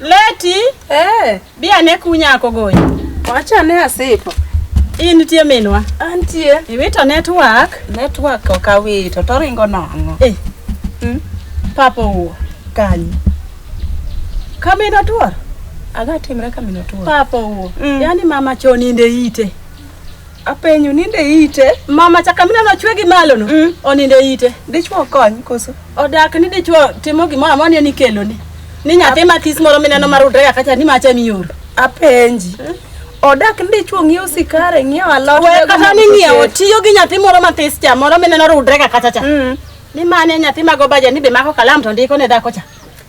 Leti, Eh, bi ane kunyako goyi. wacha ne asipo. In nitie minwa. Antie. Iwito network. Network ok awito to ringo nang'o. Eh. Mm. Papa owuo kanyi. Kamino tuor. Aga timre kamino tuo. Papa owuo. Mm. Yaani mama chon inde ite. Apenyo ninde ite. Mama chaka mina no chwe gi malo no. Mm. Oninde ite. Dichwo kony koso. Odak ni dichwo timo gimoro amoro ni nikelo ni. Ni nyathi matis moro mineno marudre kaka cha ni macha miyoro. Apenji. Mm. Odak ni dichwo ng'iewo sikare, ng'iewo alot. We kata ni ng'iewo tiyo gi nyathi moro matis cha moro mineno rudre kaka cha cha. Mm. Ni mane nyathi mago baje ni be mako kalam to ndiko ne dhako cha.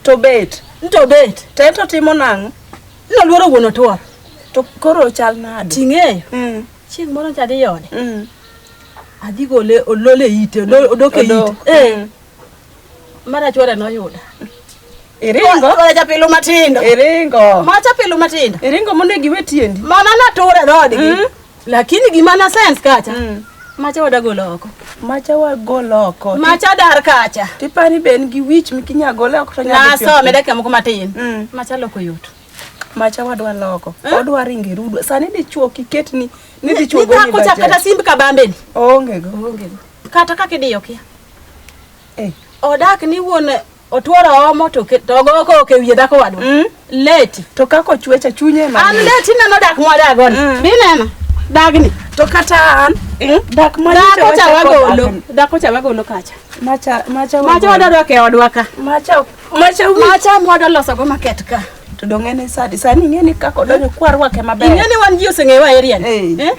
To bet. To bet. Tento timo nang'o? Noluoro wuon otuor. To koro chal nade? Ting'eyo. Mm. Chieng' moro cha dhi ode. Mm. Adhi gole olole ite, odok e ite. Eh. Mm. Mara chwore noyuda. Iringo. Kore chapilo matindo. Iringo. Ma chapilo matindo. Iringo monego iwe tiendi. Mana nature dhodi. Mm. Lakini gima na sense kacha. Mm. Macha wadagolo oko. Macha wagolo oko. Macha dar kacha. Tipani ben gi wich mikinya gole oko to nyalo. Na so meda kemo kuma tin. Mm. Macha loko yot. Macha wadwa loko. Eh? Wadwa ringi rudo. Sani dichuo kiket ni ni dichuo go ni. Ni kacha kata simbi kabambe ni. Onge go. Onge go. Kata kaka idiyo kia. Eh. Odak ni wuon Otuoro omo to ke- to ogo ko ke wiye dhako wadwa. Mm. Leti. To kako chwecha chunye ma. An leti neno dak mwadago ni. Mm. Bineno. Dagni. To kata an mm, dak ma Dhako cha wagolo. Dhako cha wagolo kacha. Macha macha Macha wadadwa ke odwa ka. macha macha Macha mwadwa loso go market ka. To dong en sadi sani ing'e ni kaka odonjo kwarwake maber. Ing'e ni wan ji oseng'eyo wa area ni. Eh?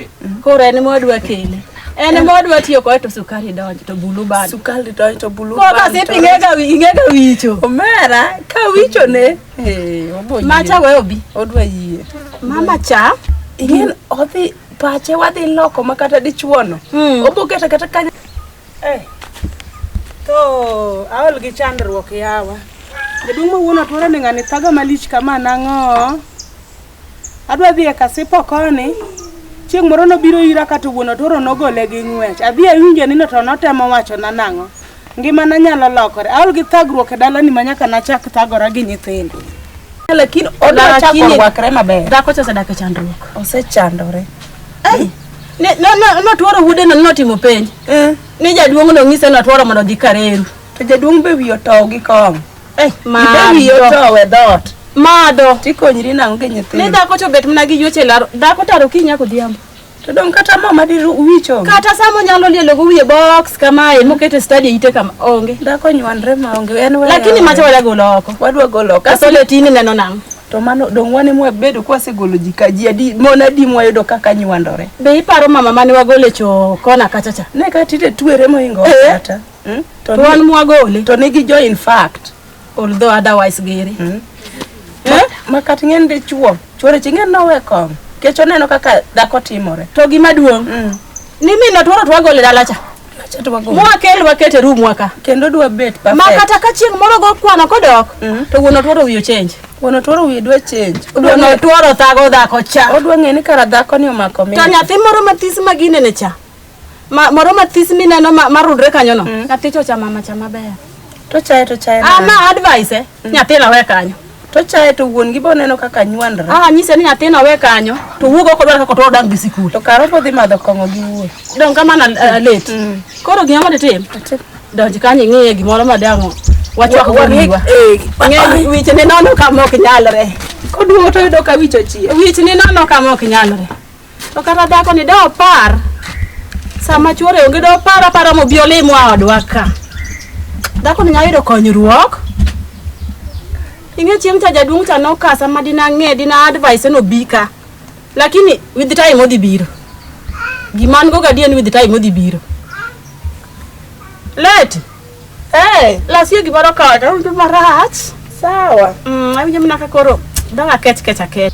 Koro en modwa kele. En modwa tiyo kode to sukari donjo to bulu bado. Sukari donjo to bulu bado. Koro sip ing'ega ing'ega wicho. Omera ka wicho ne. Eh, obo. Macha we obi. Odwa yie. Mama cha ing'e odhi pache wadhi loko makata dichuono. Hmm. Obo kata kata Eh, to aol gi chandruok yawa. Jaduong' ma wuon otwara ni ng'ani thaga malich kama nang'o. Adwa dhi e kasipo koni. Chieng' moro nobiro ira kata wuon otwaro nogole gi ng'wech. Adhi awinjo ni no to notemo wacho na nang'o. Ngima na nyalo lokore. Aol gi thagruok e dalani ma nyaka nachak thagora gi nyithindo. Lakini odwa chako Lakini- rwakre maber. Dhako cha osedak e chandruok. Osechandore. notworo wuodeno notimo penj eh. ni jaduong' nong'ise notworo mondo odhi kareru to jaduong' be wiye otow gi kong eh, wiye otow e dhoot madho tikonyri nang'o gi nyithindo ni dhako to bet mana gi yuoche e laro dhako taro kiny nyaka odhiambo to dong' kata mo madi wicho kata sama onyalo lielo go wiye box kamae e, mokete stadi ite kama onge dhako nywanre ma onge en lakini macha wadwa golo oko wadwa golo oko kasole tini neno nang'o To mano dong' wane mwabedo kwasegolo ji ka ji adi mon adi mwayudo kaka nywandore. Be iparo mama mane wagole cho kona kacha cha? Ne ka tite twere moingo Eh. kata. Mm? To To wan ni- mwagole. to nigi jo in fact. Although otherwise gere. Mm. Eh? Ma kat ng'en de chuo. Chuore chi ng'en nowe kong. Kech oneno kaka dhako timore. To gima duong'. Mm. Ni min otworo twagole dala cha. Acha to wago. Mwakel waket e room waka. Kendo dwa bet perfect. Ma kata ka chieng' moro go kwano kodok mm. to wuon otworo wiyo change. Wuon otworo wiyo dwa change. Wuon otworo thago dhako cha. Odwa ng'e ni kara dhako ni omako mi. To nyathi moro mathis ma ginene cha. Ma moro mathis mineno ma, ma rudre kanyo no. Mm. Nyathi chocha mama cha maber. To chaye to chaye. Ah, ma advice eh. Mm. Nyathi na we kanyo. To chaye to wuon gi boneno kaka nywandre. Ah, nyise ni nyathina we kanyo. To wuogo oko dwaro kaka to odang gi sikul. To karo podhi madho kong'o gi wuon. Dong kama na uh, late. Mm. Koro gima ma ditim. Donj kanyo ing'e gimoro ma dango. Wachwak wariwa. Eh, ng'e wiche ne nono kama ok nyalre. Koduogo to yudo ka wicho chie. Wiche ne nono kama ok nyalre. To kata dhako ni da opar sama chuore onge da opar apara mobi olim wa odwa ka. Dhako ni nyalo yudo konyruok. Ing'e chieng' cha jaduong' cha noka sama dina ng'e dina advice no bika. Lakini with time odhi biro. Gima an go gadier ni with time odhi biro. Leti. Eh, Lasie gimoro kaka to marach. sawa. Mm, awinjo mana ka koro dong akech kech akech.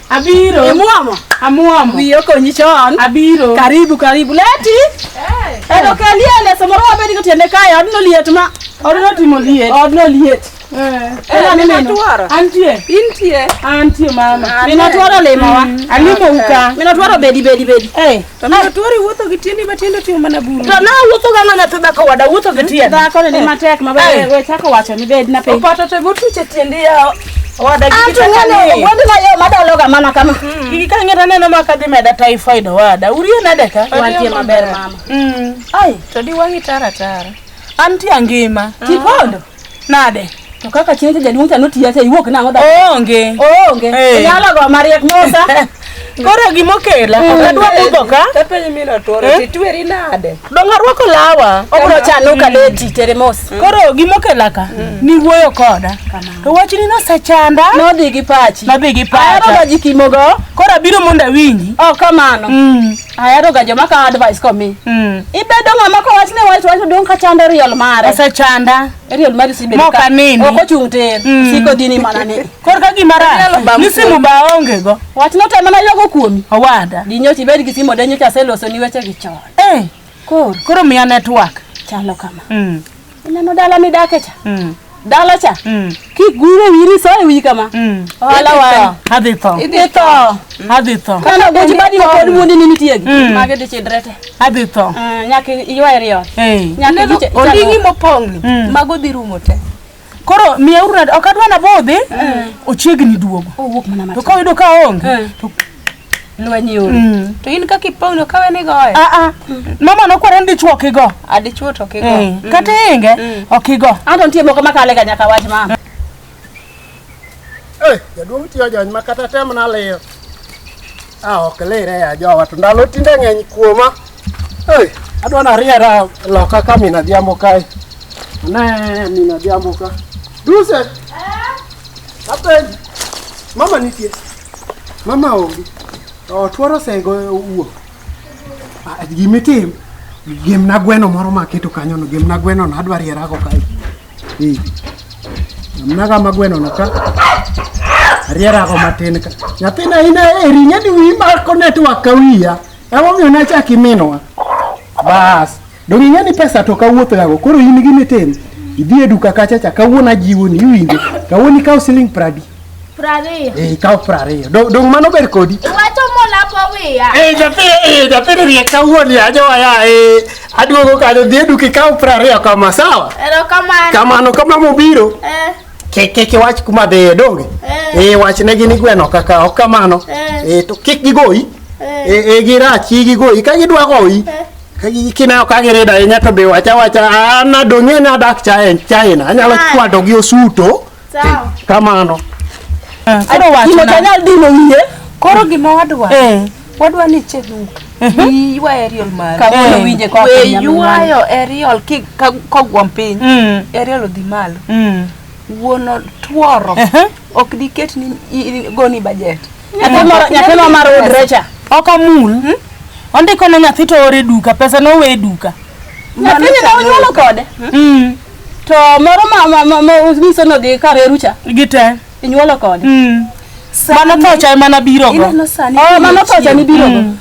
Abiro. Imuomo? Amuomo. Wiyi okonyi chon. Abiro. Karibu, karibu. Leti? Eh. Edo ka liel e samoro wabedi ko tiende kae, odno liet ma. Odno timo liet. Odno liet. Eh. Ela ni meno. Antie. Intie. Antie mama. Mino twaro limo wa. Mm. Alimo uka. Mino twaro bedi bedi bedi. Eh. To ne tuori wuotho gi tiendi ma tiende timo mana buru. To na wuotho ga ng'ana to dhako wada wuotho gi tiende. Dhako ni matek ma be we chako wacho ni bed na piny. Opato to motuche tiendi ya wada gi tiende. Ng'ani wadi na yo madalo ga mana kama. Iki ka ng'era neno ma ka dhi meda typhoid wada. Urie nade ka? Wantie maber mama. Mm. Ai, to di wangi tara tara. Antie ngima. Tipondo. Nade? To kaka chieng' cha jaduong' cha notiya cha iwuok nang'o da? Oonge. Oonge. Eh. Inyalo go mariek mosa. Koro gima okela, ok adwa budho ka. Tapenyi min otuoro, Eh? titweri nade? Dong' arwako lawa. Obro chano ka leti tere mos. Koro gima okela ka, niwuoyo koda. To wachni nosechanda. Nodhi gi pachi. Nodhi gi pacha. Ahero ga ji kimogo. Koro abiro mondo awinji. Oh, kamano. Mm. ahero ga joma kawo advice komi Mm. ibedo ng'ama kowach ne wach wach odong' ka chando riel mare Osechanda. riel mari sibedo Mok aneni. ok ochung' tir Mm. siko dini mana ni Kor ka gima Onyalo rach. bam Ni simu ba onge go. wach note mana yogo kuomi Owada. di nyocha ibed gi simo de nyocha aseloso ni weche gi chon Eh, koro koro miya network. chalo kama Mm. Ineno dala midake cha? Mm. Dala cha? Mm. Kigure wiri so e wi kama. Mm. Ohala wani. Adhi tho. Idhi tho. Adhi tho. Kana go jibadi ma pod mundi ni nitie gi. Mm. Mage de chidrete. Adhi tho. Uh, nyaka iywae riyo. Hey. Nyaka giche. Ondingi mopong ni. Mm. Mago dhi rumo te. Koro miya urna ok adwa na bodhi. Mm. Ochiegni duogo. Owuok mana matin. To ka oyudo ka onge. Mm. To lweny yore mm. to in kaka ipong'no kawe ni goyo ah, ah. mama nokwere ni dichwo ok igo adichwo ah, to ok igo eh, mm. kata inge mm. ok igo anto nitie moko makale ga nyaka wach ma eh, jaduong' tiyo jony ma kata tem nalir a ok lire ya jowa to ndalo tinde ng'eny kuoma eh, adwa nariera loka ka min adhiambo kae ne min adhiambo ka duse apenj mama nitie Mama onge. Otuoro sego wuok. Ah, Gima itim, gemna gweno moro ma aketo kanyono, gemna gwenono, adwa rierago kae. Eh, Gemnaga ma gwenono ka, arierago matin ka. Nyathina in eri, ng'eni wiyi mako network ka wiya. Emomiyo nachak iminwa. Bas. Donge ing'e ni pesa to kawuoth gago koro in gi mitin idhi e duka kacha cha kawuono ajiwoni iwinjo kawuono ikaw siling pradi prariyo eh, ikaw prariyo dong mano ber kodi iwacho molako wiya eh, nyathini eh, riek kawuoni ajowaya aduogo kanyo dhi e duka ikaw prariyo kama sawa kamano kama mobiro kik iwach kuma dhiye donge e wachnegi ni gweno kaka ok kamano to kik gigoyi e girachi gigoyi ka gidwa goyi kinayo ka girida ahinya to be wacha wacha an adong'e ni adak China anyalo kwado gi osuto kamano koro gima wadwa eh. wadwa ni che duka iywa aerial mare kawuono winje kwa we ywayo aerial ki kogwom piny mm. aerial odhi malo mm. wuono tworo ok diket ni goni budget Nyathino mar odre cha. Ok amul. Hmm? Ondiko ne nyathi to ore duka, pesa no we duka. Nyathini ne onyuolo kode. Hmm. hmm. To moro ma ma ma umiso no dhi kar erucha. Gite. Inyuolo kode. Hmm. Mano to cha mana biro go. Oh, mano to cha ni biro go. Hmm.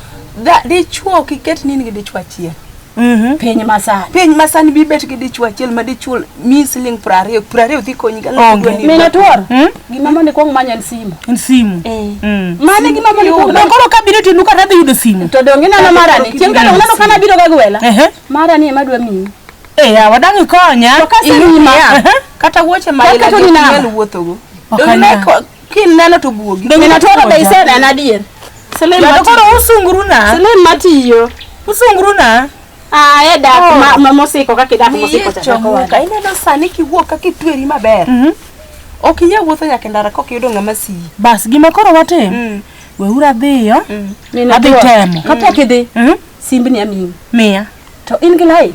Dichuo kiket nini gi dichuo achiel. Mhm. piny masani piny masani bibet gi dichwo achiel ma dichwo mi siling piero ariyo piero ariyo dhi konyi ka ng'ato Onge. dwa ni- mine tuor Mm. gima mondo ikwong manyo en simu En simu. Eh. Mm. mane gima mondo ikwong Na koro ka biro tinuka tadhi yudo simu. to donge neno marani chieng' ka donge neno kana biro ga gwela Ehe. marani ema dwa miyi Eh, yawa dang' ikonya. To ka simu Inyima. ma- Ehe. kata wuoche ma Kaka ila to ni gi ok nyal namba. wuothogo Ok Donge anyal. ko- Kineno to buogi. Donge Min natoro be Apoja. iseneno adier. Selin Yaani koro matiyo. usunguru na. Selin matiyo. Usunguru na. Ah, e dak Oh. ma- ma mosiko kaka idak Wiye mosiko cha chako chomuka. wada. Ineno sani kiwuok kaka itweri maber. Mhm. Ok inyal wuotho nyaka e ndara kok iyudo ng'ama siyi. Bas gima koro watim. Mm. Weuru adhiyo. Mm. Min Adhi Apoja. temo. Kapok idhi, Mhm. simbni amiyi. Miya. To in gi lai.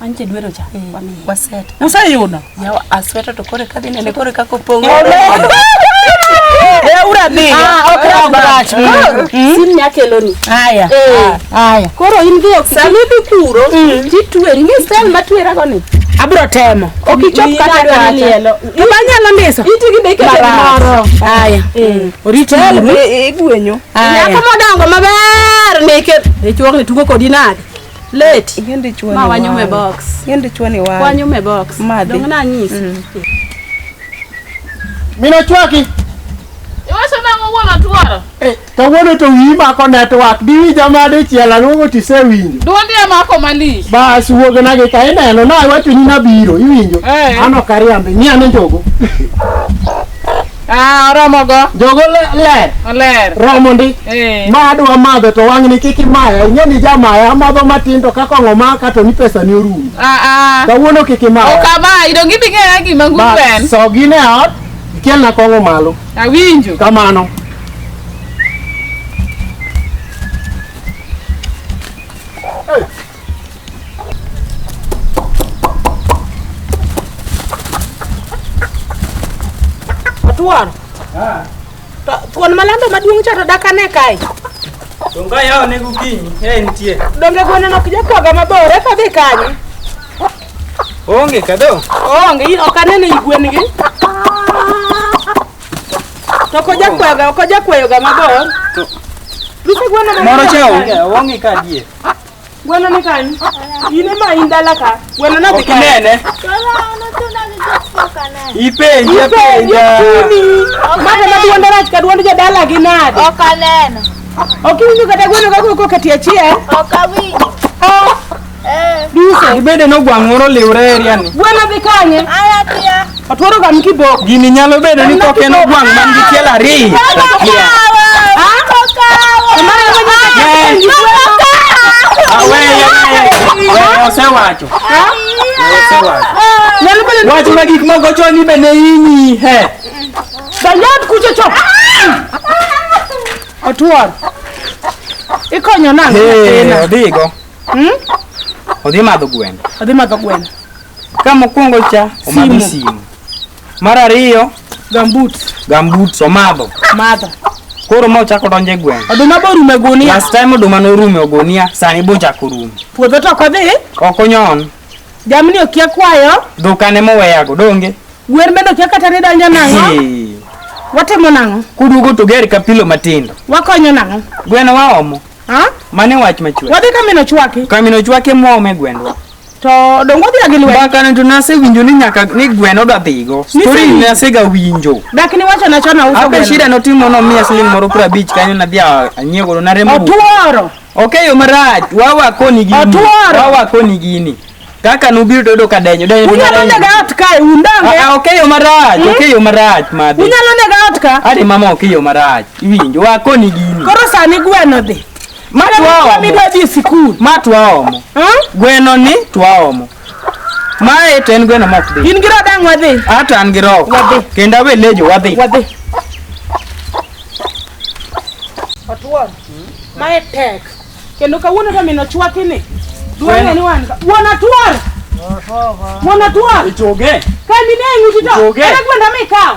Anche dwero cha. Wamiye. Waset. Useyudo? Yawa asweta to kore kadhi nene kore kako pongo. Eh, uradhi. Ah, ok rach. Sim nya keloni. Haya. Eh. Haya. Koro in dhi ok sami dhi kuro. Titweri ngi sel matwera go ni. Abro temo. Ok ichop kata dwa lielo. Kama nyalo ndiso. Iti gi deke moro. Haya. Oriti igwenyo. Nyako modongo maber ni ke. Ichuok ni tugo kodi nade? Late. Yie ndichwa ni. Ma wanyume box. Yie ndichwa ni wale. Wanyume box. Madhi. Donge na nyisi. Mm. Mina chwaki. Iwacho nang'o wuon atwara? Eh, kawuono to wiyi mako network. Diwi jamade chiela luongo tise winjo. Duondi amako malich. Bas wuog na gi ka ineno na iwacho ni nabiro iwinjo. Eh. Ano kariambe. Ng'i ane njogo. Ah, oromo go. Jogo le- ler. Oler. Romo ndi. Eh. Ma adwa madho to wang'ni kik imaya. Ing'e ni jamaya amadho matin to kaka ong'o maka to ni pesa ni orumo. Ah, ah. Kawuono kik imaya. Ok amayi, donge idhi ng'eya gima Ba, ngugu en. sogi ne ot, ikelna kong'o malo. Awinjo. Kamano. Tuon. Ah. Tuon malando maduong' cha to dak ane kae. Donge yawo ne gokinyi e nitie. Donge gweno nok jakwaga mabor eka dhi kanye? Onge kado. Onge in ok anene i gwen gi. To ko jakwaga ko jakwayoga mabor. Lupe gweno mabor. Moro cha onge onge ka die. Gweno ni kani? In ema in dala ka. Gweno na dhi kani. Okinene. Ipenje penja. Mata na duonde rach ka duonde jadala gi nade? Ok aneno. Ok iwinjo kata gweno ka koko kati achiel? Ok awinjo. Duse. Ibende no gwang' moro liwre area ni. Gweno dhi kanye? Aya tia. Otworo ga mkiboko. Gini nyalo bedo ni koke no gwang man gi tiel ariyo. Osewacho. Wach ma gik moko chon ni bende inyi he. Danyad kucho chon. Otwor. Ikonyo nang'. Hey, odigo. Hmm? Odhi madho gweno. Odhi madho gweno. Ka mokwongo cha omadho simu, simu mar ariyo gambut, gambut omadho madho. koro ma ochako donjo e gweng' Oduma be orumo e gunia. last time oduma norumo e ogunia sani be ochako orumo Puodho to ok odhi. ok onyon Jamni okia kwayo. dhokane moweyago donge Gwen bende okia kata ni donjo nang'o. Ee, Watimo nang'o? kuduogo to ger ka pilo matindo Wakonyo nang'o? gweno waomo Ha? mane wach machwe Wadhi kamino chwaki. kamino chwake mwome gwendwa To dongo odhi gi lwedo. Baka ne to nase winjo ni nyaka ni gweno da dhigo. Story ni nase ga winjo. Dak ni wacho na chona uso. Ape shida no timo no mia siling moro pra beach kanyo na dhia anyego na remo. Otuoro. Okay yo maraj. Wawa koni gini. Otuoro. Wawa koni gini. Kaka nubiro dodo ka denyo denyo. Unyalo ne ga ot kae undange. Ah, ah okay yo maraj. Hmm? Okay yo maraj madhi. Unyalo ne ga ot ka. Ade mama okay yo maraj. Iwinjo wa koni gini. Koro sani gweno dhi. Ma twaomo. Midwa dhi e sikul. Ma twaomo. Gweno ni twaomo. Mae to en gweno mok dhi. In gi roho dang' wadhi. Ato an gi roho. Wadhi. Kendo awe lejo wadhi. Wadhi. Otuon. Mae tek. Kendo kawuono to min ochwaki ni. Dwang'e ni wan. Wuon Atuor. Wuon Atuor. Ichoge. Kambi ne ng'uti to. Ichoge. Ere gwenda mikawo.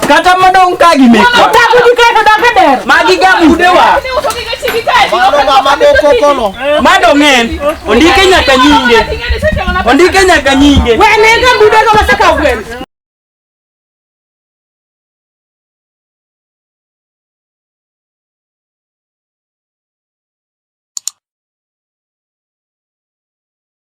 Kata madong ka gi meko. Otaku gi kae to dake der. Magi ga budewa. Mado ng'en. Ondike nyaka nyinge. Ondike nyaka nyinge. Wene ga budego masaka gwen.